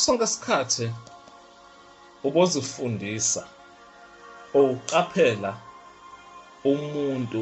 sonke isikhathi ubozifundisa ukuqaphela umuntu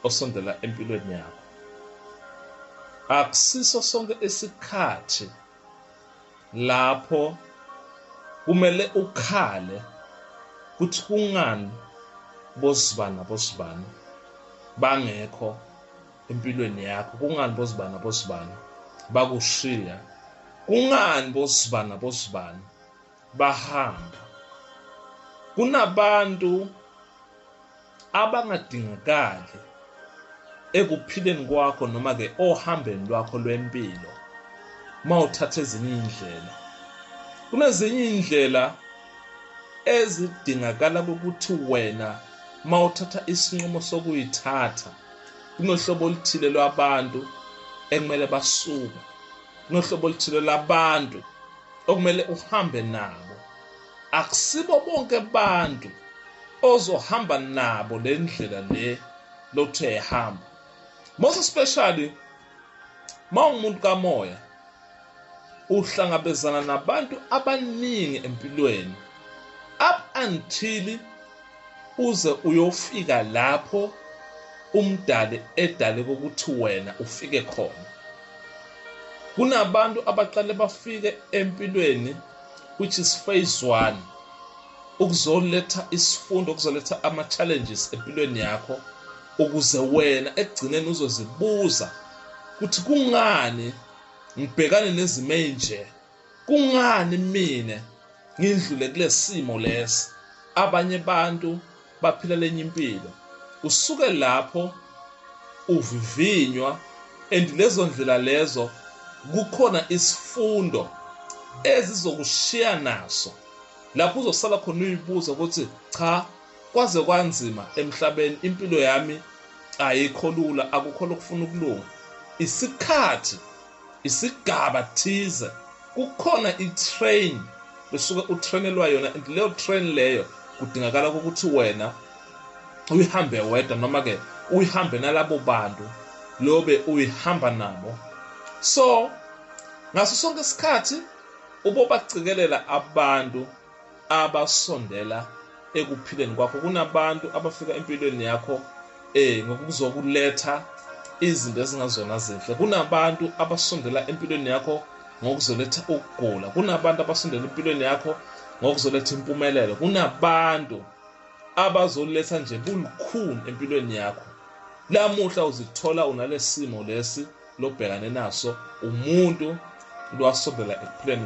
osondela empilweni yakho akusiso sonke isikhathi lapho kumele ukhale ukuthi kungani bosibani nabosibani bangekho empilweni yakho kungani bosibani abosibani bakushiya kungani bosibani abosibani bahamba kunabantu abangadingakali ekuphileni kwakho noma ke ohambeni lwakho lwempilo mawuthatha ezinye indlela kunezinye indlela ezidingakala ukuthi wena mawuthatha isinqumo sokuyithatha kunohlobo oluthile lwabantu ekumele basuke kunohlobo oluthile labantu okumele uhambe nabo akusibo bonke abantu ozohamba nabo le ndlela le lothe ehamba most especially mawungumuntu kamoya uhlangabezana nabantu abaningi empilweni up until uze uyofika lapho umdali edale kokuthi wena ufike khona kunabantu abaqale bafike empilweni which is phase 1 ukuzoletha isifundo ukuzoletha ama challenges empilweni yakho ukuze wena ekugcineni uzozibuza ukuthi kungani ngibhekane nezimo ezinje kungani mina ngindlule kulesimo lesi abanye abantu baphila lenye impilo usuke lapho uvivinywa and lezo ndlela lezo kukhona isifundo ezizokushiya naso lapho uzosala khona uyibuza ukuthi cha Kwaze kwanzima emhlabeni impilo yami ayikho lula akukho lokufuna ukulunga isikhathi isigaba thize kukhona i-train besuke utrainelwa yona and leyo train leyo kudingakala ukuthi wena uyihambe wedwa noma-ke uyihambe nalabo bantu lobe uyihamba nabo so ngaso sonke isikhathi ubobacikelela abantu abasondela ekuphileni kwakho kunabantu abafika empilweni yakho eh ngokuzokuletha izinto ezingazona zinhle kunabantu abasondela empilweni yakho ngokuzoletha ukugula kunabantu abasondela empilweni yakho ngokuzoletha impumelelo kunabantu abazoletha nje bulukhuni empilweni yakho lamuhla uzithola unalesimo lesi lobhekane naso umuntu lwasondela ekuphileni